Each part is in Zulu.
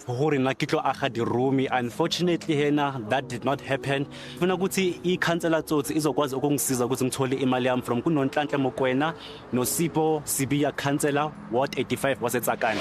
gore na ke tlo aga diromi unfortunately hena that did not happen funa ukuthi ikhansela tsotsi izokwazi ukungisiza ukuthi ngithole imali yami from kunonhlanhla mokwena nosipo sibiya khansela ward 85 wasetsakane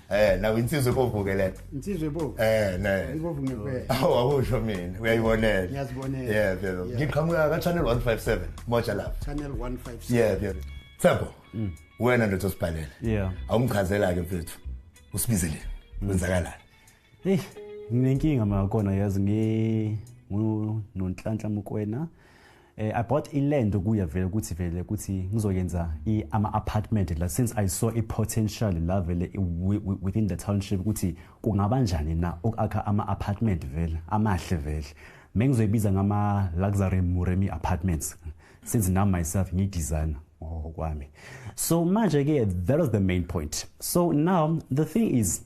Eh nawe insizwe bovu ke lento. Insizwe bovu. Eh ne. Ibovu ngempela. Awu akusho mina uyayibonela. Ngiyazibonela. Yeah phela. Ngiqhamuka ka channel 157 Moja Love. Channel 157. Yeah phela. Thabo. Mm. Wena ndothi osibhalele. Yeah. Awumchazela ke mfethu. Usibizele. Mm. Wenzakalani? Hey, nginenkinga makona yazi ngi ngonhlanhla mukwena. Eh, I bought a land kuye vele ukuthi vele ukuthi ngizoyenza ama apartment la since I saw a potential la vele within the township ukuthi kungaba njani na ukakha ama apartment vele amahle vele mengizoyibiza ngama luxury muremi apartments since now myself ngi designer oh kwami so manje ke that was the main point so now the thing is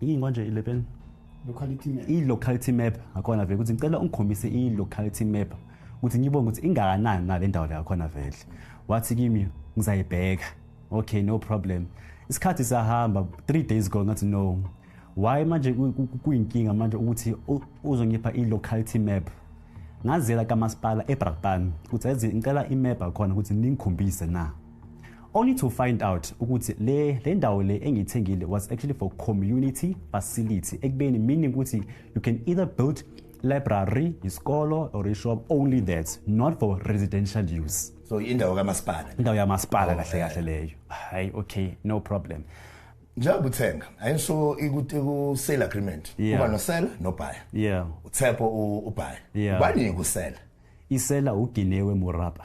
yini manje 11 locality map i-locality map akhona vele ukuthi ngicela ungikhombise i-locality map ukuthi ngibone ukuthi ingakanani na le ndawo le yakhona vele wathi kimi ngizayibheka okay no problem isikhathi sahamba three days ago ngathi no why manje kuyinkinga manje ukuthi uzongipha i-locality map ngazela kamasipala ebrakpan ukuthi ngicela imap akhona ukuthi ningikhombise na only to find out ukuthi le le ndawo le engiyithengile was actually for community facility ekubeni meaning ukuthi you can either build library isikolo or ishop only that not for residential use so indawo kamasipala indawo yamasipala oh, kahle kahle leyo hayi okay no problem njengoba uthenga ayisho ikuthi ku sale agreement kuba no seller no buyer yeah uthepo ubaya ubani kusela isela uginewe murapa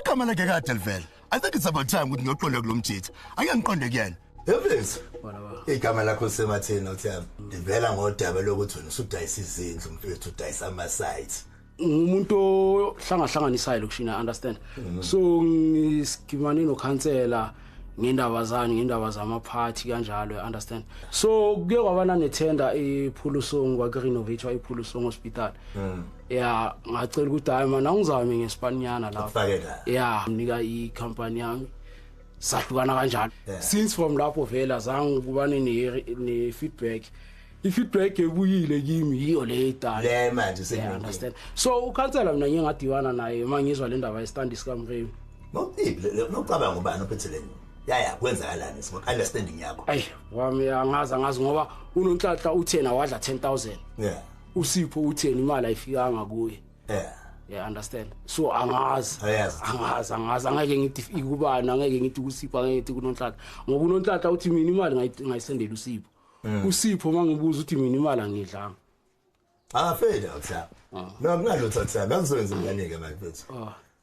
igama lakhe kade livela i think it's about time ukuthi ngiyoqonda kulo mjitha ake ngiqonde kuyena Evezi. Igama lakho sematheni othiyami. Livela ngodaba lokuthi wena usudayisa izindlu mfethu udayisa ama sites. Ngumuntu ohlangahlanganisayo lokushina understand. Mm. So ngiskimane no counselor ngendaba zani ngendaba zama party kanjalo you understand so kuke kwabana ne tender ephuluso ngwa renovate iphuluso hospital mm. ya ngacela ukuthi hayi mana ngizame ngespanyana lapho Ufake la. ya mnika i-company yami sahlukana kanjalo Yeah. since from lapho vele azange ukubane ne- ne-feedback i-feedback ebuyile kimi yiyo le idala Le manje Yeah, sengiyini. understand so ukhansela mina ngiye ngadiwana naye uma ngizwa le ndaba yesitandi sikamremi Ngokuphiphi nokucabanga ubani ophethe le nyoni. Yaya kwenzakalani simo understanding yakho. ayi wami angazi angazi ngoba unonhlanhla uthena wadla 10000 Yeah. usipho utheni imali ayifikanga kuye yeah yeah understand so angazi Ayazi. angazi angazi angeke ngithi if- ikubani angeke ngithi kusipho angeke ngithi kunonhlaka ngoba unonhlaka uthi mina imali ngayi- ngayisendela usipho usipho mangibuza uthi mina imali angidlanga Angafeli uThabo. No kunalutho Thabo, angizokwenza ingane-ke manje mfethu.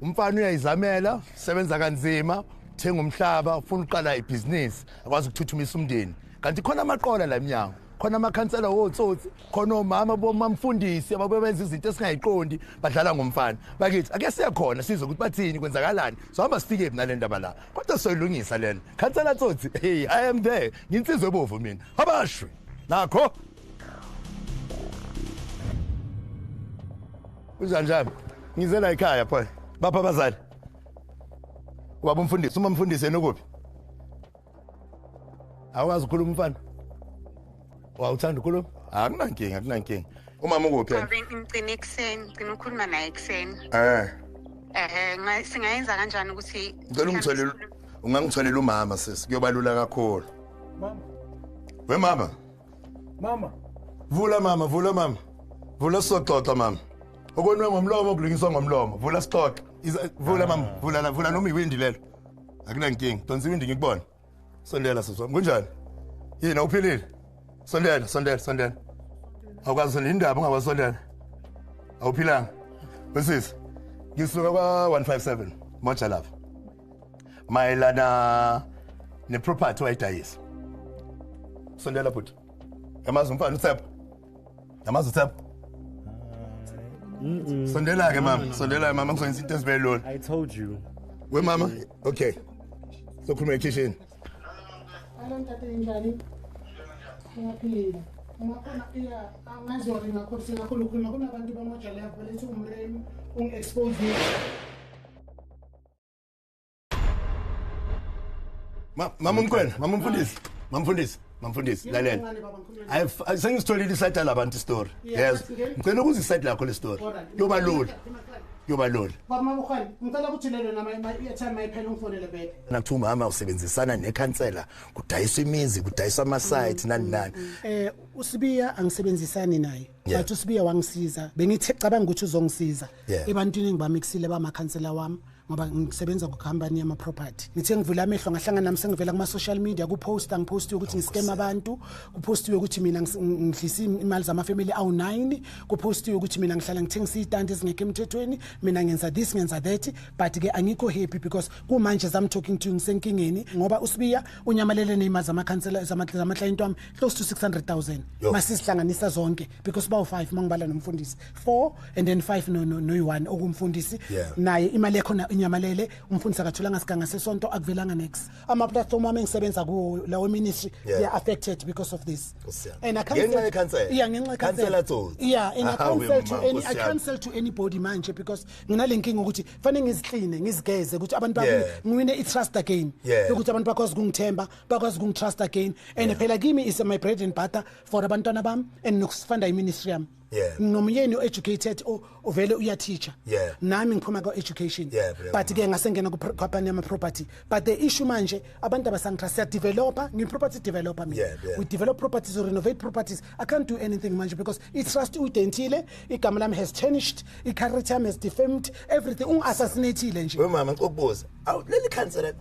umfana uyayizamela sebenza kanzima uthenga umhlaba ufuna uqala ibhizinisi akwazi ukuthuthumisa umndeni kanti khona amaqola la emnyango khona amakhansela wotsotsi khona omama bomamfundisi ababebenza izinto esingayiqondi badlala ngomfana bakithi ake siye khona sizwe ukuthi bathini kwenzakalani sohamba sifike phi nale ndaba la kodwa soyilungisa lena khansela tsotsi hey i am there nginsizwe bovu mina abashwe nakho Unjanjani? Ngize la ekhaya pho. Bapha abazali. Ubaba umfundisi, uma mfundisi yena ukuphi? Awazi ukukhuluma umfana? Wawuthanda ukukhuluma? Akunankinga, akunankinga. Umama ukuphi yena? Babe ngicina ekuseni, ngicina ukukhuluma naye ekuseni. Eh. Eh, nga- singayenza kanjani ukuthi Ngicela ungitholele ungangitholela umama sisi kuyobalula kakhulu. Mama. We mama. mama vula mama vula mama vula sizoxoxa mama okonwe ngomlomo kulungiswa ngomlomo vula sixoxe vula mama ah. vula la vula noma iwindi lelo akunankinga donsa iwindi ngikubona sondela sisi wami kunjani yini uphilile sondela sondela sondela awukwazi sondela indaba ungakwazi sondela awuphilanga wesisi ngisuka kwa-157 moja lapha mayelana neproperty wayidayisa sondela bhuti yamazi umfana uthepho yamazi uthepho sondela-ke mama sondela-ke mama kuzoyenza into ezibe lula I told you. we mama okay sokhuluma ekhishini Alo ntate njani? Ngiyaphila. Ungakhona iya angazori ngakho singakhona ukukhuluma kunabantu bamajele yakho lethi umremi ungi-expose mama umkhwena mama umfundisi mama mfundisi mama mfundisi lalela sengisitholile isayida labantu istory yes ngicela ukuze isayidi lakho le story yoba lula yoba lula nakuthiwa umama usebenzisana nekhansela kudayiswa imizi kudayiswa amasayiti nani nani um usibiya angisebenzisani naye Yeah. But usibiya wangisiza. Bengithi cabanga ukuthi uzongisiza. Yeah. Ebantwini engibamixile ba makhansela wami. ngoba ngisebenza kucompany yama property ngithe ngivula amehlo ngahlangana nami sengivela kuma social media ku post ang post ukuthi ngiscam abantu ku post ukuthi mina ngidlisa imali zama family awu 9 ku post ukuthi mina ngihlala ngithengisa itanti ezingekho emthethweni mina ngenza this ngenza that but ke angikho happy because kumanje zam talking to you ngisenkingeni ngoba usibiya unyamalele neyima zamakhansela zamaklayenti wami close to 600000 Yo. masizihlanganisa zonke because bawu-5 uma ngibala nomfundisi 4 and then 5 no- no- noyi-1 okumfundisi Yeah. naye imali ekhona inyamalele umfundisi akatholanga siganga sesonto akuvelanga nex ama-platform wami engisebenza kuwo lawo ministry Yeah. they are affected because of this Nkosi yami. and I can't Ngenxa sell- yekhansela? yeah ngenxa yekhansela. Khansela tsotsi. yeah and I Ahawe can't sell to mama, any I Nkosi yami. can't sell to anybody manje because nginale nkinga ukuthi fanele ngizikline ngizigeze ukuthi abantu bami Yeah. ngiwine i-trust again Yeah. yokuthi abantu bakwazi ukungithemba bakwazi ukungitrust again and phela kimi is my bread and butter for abantwana bami and nokusifanda iministry yami Yeah. nginomyeni o-educated o- ovele uyateacher Yeah. nami ngiphuma kwa-education Yeah, brother. but ke ngasengena kwapani yama-property but the issue manje abantu abasangitrust siyadevelopa ngiyi-property developer mina Yeah, yeah. we develop properties we renovate properties I can't do anything manje because i-trust uyidentile igama lami has changed i-character yami has defamed everything ungi-assassinathile nje wemama ngicela ukubuza awu leli khansela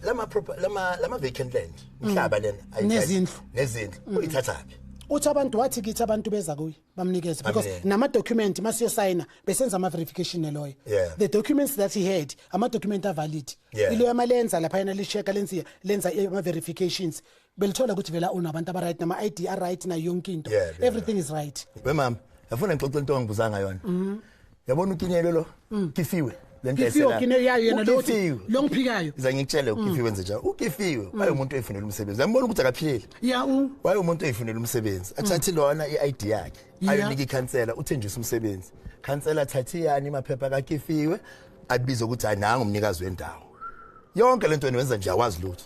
lama-vacant land mhlaba mm. lena nezindlu nezindlu mm. uyithathaphi uthi abantu wathi kithi abantu beza kuye bamnikeze because namadocument masiyosayina besenza ama-verification neloya yeah. the documents that he had amadocument avalid yeah. iloya malenza laphayana lisheka lenza lenza ama-verifications belithola ukuthi vela unabantu abaright nama ID are right nayo yonke into Yeah, yeah. everything is right we mama yafuna ngixoxe into ongibuzanga yona yabona ukinyelwe lo kifiwe le nto Kifiwe, ayisela- Kinyelwe, yayo yena lo othi- Ukifiwe. lo ngiphilayo. Ngiza ngikutshele ukifiwe nje njalo ukifiwe wayemuntu oyifunela umsebenzi yambona ukuthi akaphilile ya u wayemuntu oyifunela umsebenzi athathe lona i-id yakhe Yeah. ayonika ikhansela uthenjisa umsebenzi khansela athathe yani maphepha kakifiwe abize ukuthi hayi nangu umnikazi wendawo yonke le nto wenza nje awazi lutho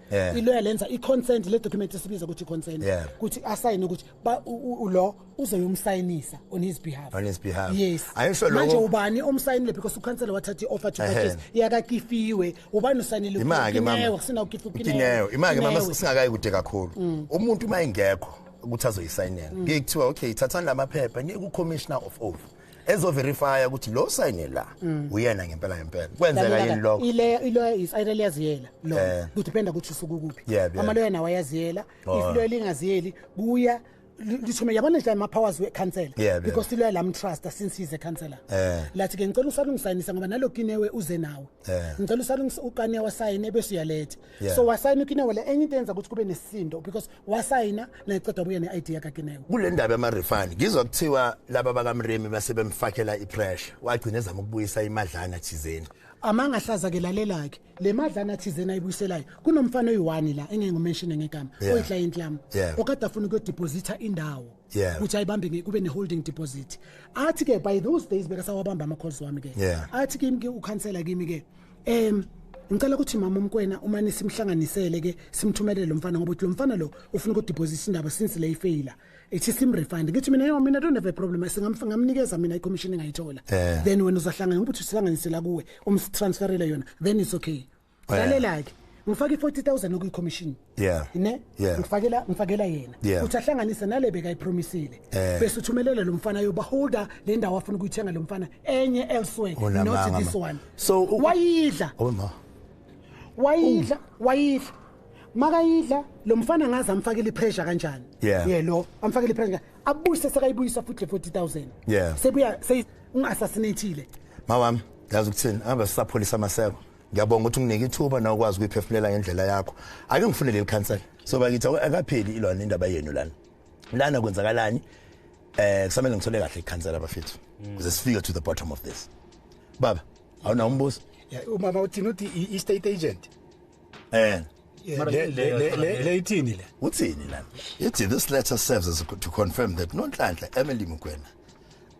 yeah. iloya lenza i-consent le document esibiza ukuthi i-consent yeah. ukuthi asayine ukuthi lo uzoyomsayinisa on his behalf on his behalf yes ayisho lo manje ubani omsayinile because ukhansela wathatha i-offer to purchase yakakifiwe ubani usayinile imake mama kusina ukifukineyo imake mama singakayi kude kakhulu mm. umuntu uma engekho ukuthi azoyisayinela mm. ngeke kuthiwa okay thathani lamaphepha ngeke ucommissioner of oath ezo verify ukuthi lo sign la mm. uyena ngempela ngempela kwenzeka yini lokho ile ile is either liyaziyela lo eh. ku depend ukuthi usuku kuphi ama lo yena wayaziyela oh. if lo lingaziyeli kuya lithome yabona nje ama powers we cancel because lo la mtrust since he's a counselor eh. lathi ke ngicela usalungisayinisa ngoba nalokinewe uze nawe eh. ngicela usalungisa uqane wasayine bese uyaletha Yeah. so wasayina ukinewe le enye into yenza ukuthi kube nesisindo because wasayina nayiceda buye ne-id yakakinewe kule ndaba yamarefund ngizwa kuthiwa laba bakamremi base bemfakela ipressure wagcina ezama ukubuyisa imadlana thizeni amanga ahlaza ke lalelake le madlana thizeni ayibuyiselayo kunomfana oyi-one la engeke ngumenshine ngegama Yeah. oyiclient yami Yeah. okade afuna ukuyodepositha indawo Yeah. ukuthi ayibambe nge- kube ne-holding deposit athi-ke by those days bekasawabamba ama-calls wami-ke Yeah. athi kimi-ke ukhansela kimi-ke em ngicela ukuthi mama umkwena uma nisimhlanganisele ke simthumelele lo mfana ngoba uthi lo mfana lo ufuna ukudeposit indaba since le ifeyila ethi simrefund ngithi mina yo mina don't have a problem singamnikeza mina icommission engayithola Eh. then wena uzohlangana ngokuthi usihlanganisela kuwe umsitransferele yona then it's okay Eh. lalela-ke ngifake i-40 000 okuyicommission yeah ne yeah. ngifakela ngifakela yena yeah. uthi ahlanganise nale beka ipromisile eh. bese uthumelela lo mfana yoba holder le ndawo afuna ukuyithenga lo mfana enye elsewhere oh, not this one so wayidla oh ma wayidla wayidla makayidla lo mfana ngaze amfakele ipressure kanjani yeah. yeah lo amfakele ipressure abuyise sekayibuyisa futhi 40000 yeah sebuya sey ungassassinatile mawami yazi ukuthini aba sisapholisa amaseko ngiyabonga ukuthi unginike ithuba na ukwazi ukuyiphefumulela ngendlela yakho ake ngifune leli khansela so bakithi akapheli ilona indaba yenu lana lana kwenzakalani eh kusamele ngithole kahle ikhansela bafethu mm. kuze sifike to the bottom of this baba awuna umbuzo umama uthini uthi i state agent eh le ithini le uthini lana ithi this letter serves as to confirm that nonhlanhla Emily Mukwena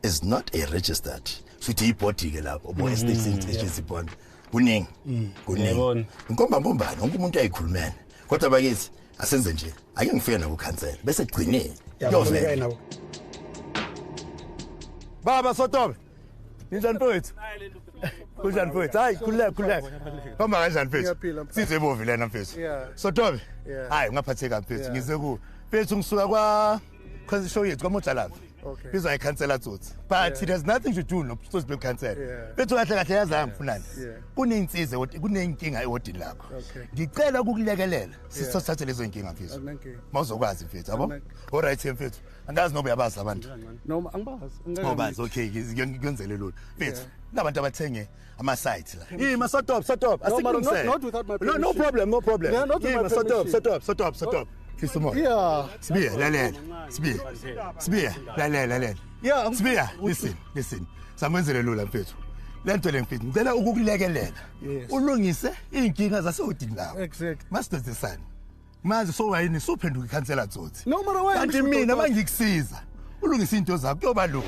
is not a registered futhi ibody ke lapho bo estate mm-hmm. station sibona kuningi mm. kuningi inkomba mbombana wonke umuntu ayikhulumene kodwa bakithi asenze nje ake ngifike nabo khansela bese gcinile yovela baba sotobe ninjani mfowethu kunjani mfowethu hayi khululeka khululeka hamba kanjani mfethu size bovi lena mfethu sotobe hayi ungaphatheka mfethu ngize ku mfethu ngisuka kwa because show yethu kwamotshalaza okay. bizwa ikhansela tsotsi but yeah. it has nothing to do notsotsi bekhansela yeah. bethu kahle kahle yazi angifunani yeah. kuneyinsize kuneyinkinga ewodini lakho okay. ngicela ukukulekelela sisothathe yeah. lezo yinkinga mfethu okay. mawuzokwazi mfethu yabo olright mfethu angazi noba uyabazi abantu noma angibazi ngobazi okay ngiyenzele lona mfethu yeah. nabantu abathenge ama sites la hey ma sort up sort up asikulungise no, no, no problem no problem yeah, not hey, ma sort up sort up sort up sort up fisa umoya yeah sibiya lalela sibiya sibiya lalela lalela yeah sibiya listen listen samenzele lula mfethu lento le mfethu ngicela ukukulekelela ulungise izinkinga zasewudini lawo exactly masidodisana manje sowayini suphenduka ikhansela tsotsi no mara wena kanti mina mangikusiza ulungisa into zakho kuyoba lula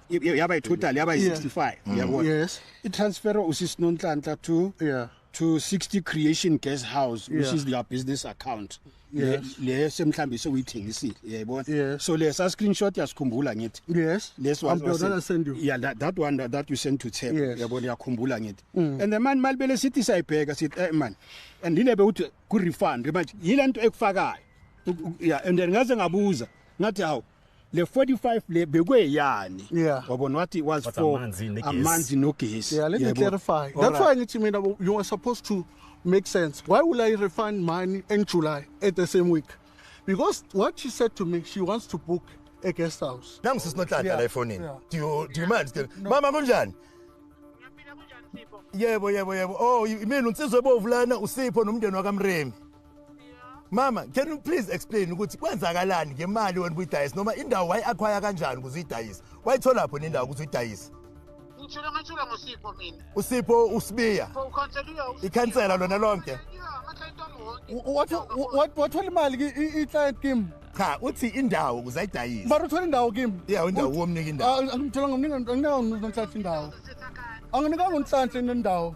yaba itotal yaba yi65 yabo yes i transfer usisinonhlanhla to yeah to 60 creation guest house which yeah. is their business account yes le semhlambi sewuyithengisile yayibona yes. so lesa screenshot yasikhumbula ngithi yes this one was that send you yeah that, that one that, that you sent to Thep yes. yabona yakhumbula ngithi mm. and the man malibele sithi sayibheka sithi eh man and inebe uthi ku refund manje yilento ekufakayo yeah and then ngaze ngabuza ngathi hawu le 45 le bekweyani Yeah. wabona what it was But for amanzi negesi. amanzi nogesi Yeah, let me Yebo. clarify. All That's right. why ngithi mina you are supposed to make sense. Why will I refund money in July at the same week? Because what she said to me, she wants to book a guest house. nangu sisinonhlanhla Yeah, la efonini yeah. do you do you mind still mama kunjani yebo yebo yebo oh imini unsizwe bovu lana usipho nomndeni wakamremi mama can you please explain ukuthi kwenzakalani ngemali wena ubuyidayisa noma indawo wayi-akhwaya kanjani ukuze uyidayise wayitholapho nendawo ukuze uyidayise ngitshela ngathula ngosipho mina usipho usibiya ikhansela lona lonke wathola imali i-client kim cha uthi indawo ukuze ayidayise mara uthola indawo kim ya indawo womnika indawo angithola ngomnika anginanonhlanhla indawo anginikanga unhlanhla indawo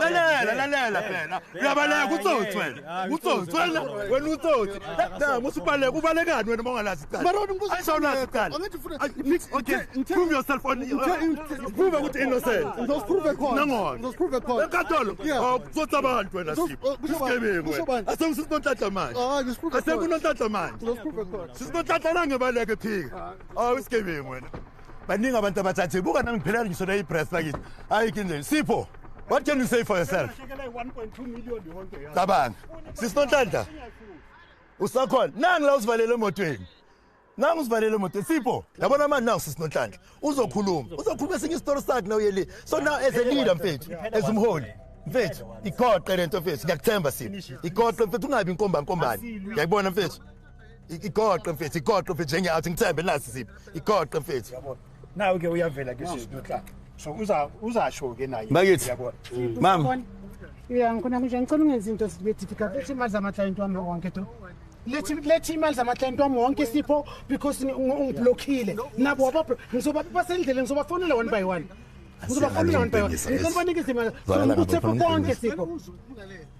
lalela lalela phela uyabaleka utsotsi wena utsotsi wena wena utsotsi dama usubaleka ubalekani wena mongalazi iqalaprove yourself prove ukuthi innocentnangolakatolo utsotsi abantu wena sigebengu asekusisinontlatla manje asekunontlatla manje sisinontlatla nangebaleke phika awu isigebengu wena baningi abantu abathathe buka nami ngiphelele ngisho nayi press lakithi hayi kinje sipho what can you say for yourself cabanga sisinontanda usakhona nangi la usivalele emotweni nangu usivalele emotweni sipho yabona manje nangu sisinontanda uzokhuluma uzokhuluma esinye isitori sakhe na uyeli so now as a leader mfethu as umholi mfethu igoqe lento mfethu ngiyakuthemba sipho igoqe mfethu ungabi inkombankombane ngiyakubona mfethu igoqe mfethu igoqe mfethu njengeyathi ngithembe nasi siphi igoqe mfethu yabona nawe ke uyavela ke sisi notla so uza uzasho ke naye bakithi yabona mama yeah ngikona nje ngicela ungenza into sibe difficult lethi imali zama client wami wonke to lethi lethi imali zama client wami wonke sipho because ungiblockile nabo waba ngizoba basendleleni ngizoba fonela one by one ngizoba fonela one by one ngicela banikeze imali ukuthi konke sipho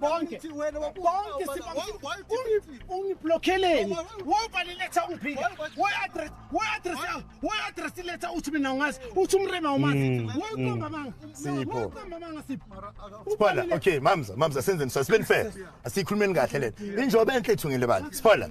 bonke bonke ungiblokheleni wobani letha ungiphika we-address we-address yam we-address letha uthi mina ungazi uthi umrema umazi mm, woyikomba mm. manga sipho woyikomba manga sipho siphola okay mamza mamza senzeni so sibeni fair asiyikhulumeni kahle lena injoba enhle ithungile bani siphola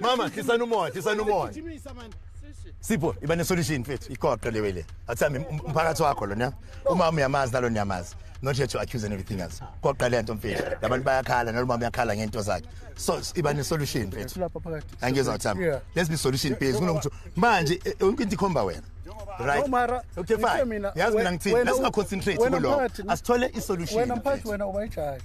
mama hlisani umoya hlisani umoya sipho iba nesolution mfethu iqoqo lewe le athambi um, umphakathi wakho lona umama uyamazi nalo niyamazi not here to accuse and everything else qoqa le nto mfethu labantu bayakhala nalo mama uyakhala ngento zakhe so iba nesolution mfethu angizwa thambi let's be solution based kunokuthi manje e, yonke into ikhomba wena right mara okay fine yazi mina ngithini let's concentrate kuloko asithole isolution wena mphathi wena ubayijaji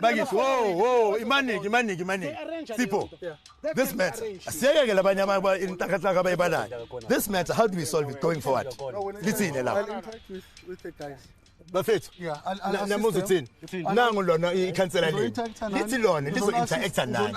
bakithi wo wo imaniki imaniki imaniki sipho this matter asiyekeke labanye inhlakahlaka abayibalayo this matter how do we solve it going forward lithini lapho bafethu namuza uthini nangu lona ikhansela lini lithi lona lizo-interacta nani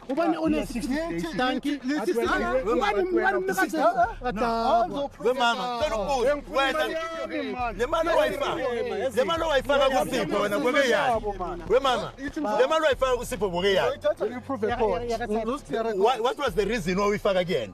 ubani onedanki lemali owayifaka kusipho wena kwebe yani wemama lemali owayifaka kusipho boke yani what was the reason wawuyifaka kuyena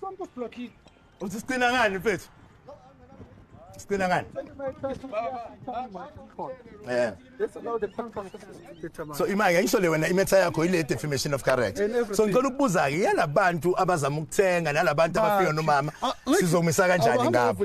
Sonke usiblockile. Uthi sicina ngani mfethu? Sicina ngani? Eh. So imake ngisho le wena imetha yakho ile defamation of character. So ngicela ukubuza ke yalabantu abazama ukuthenga nalabantu abafika nomama sizomisa kanjani ngabo?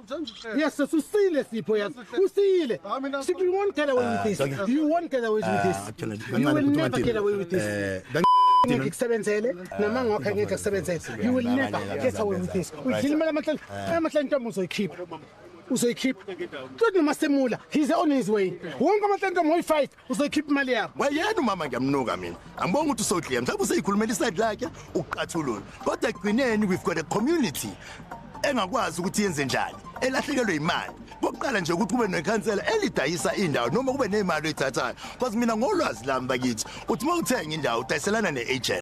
Yes, so usile Sipho yes. Usile. Sipho you won't get away with this. Ah, you won't get away with ah, this. You will never get away with this. Eh, ngeke kusebenzele ah, nama ngokho ngeke kusebenzele you will never get away with this udlima lamahlanje amahlanje ntombi uzoyikhipha uzoyikhipha kusho noma semula he's on his way wonke amahlanje ntombi uyi-fight uzokhipha imali yakho wayena umama ngiyamnuka mina angibonga ukuthi usodliya mhlawumbe useyikhulumela iside lakhe uqathulule kodwa ekugcineni we've got a community engakwazi ukuthi yenze njani elahlekelwe imali kokuqala nje ukuthi kube nekhansela elidayisa indawo noma kube nemali oyithathayo because mina ngolwazi lami bakithi uthi uma uthenga indawo udayiselana ne-agent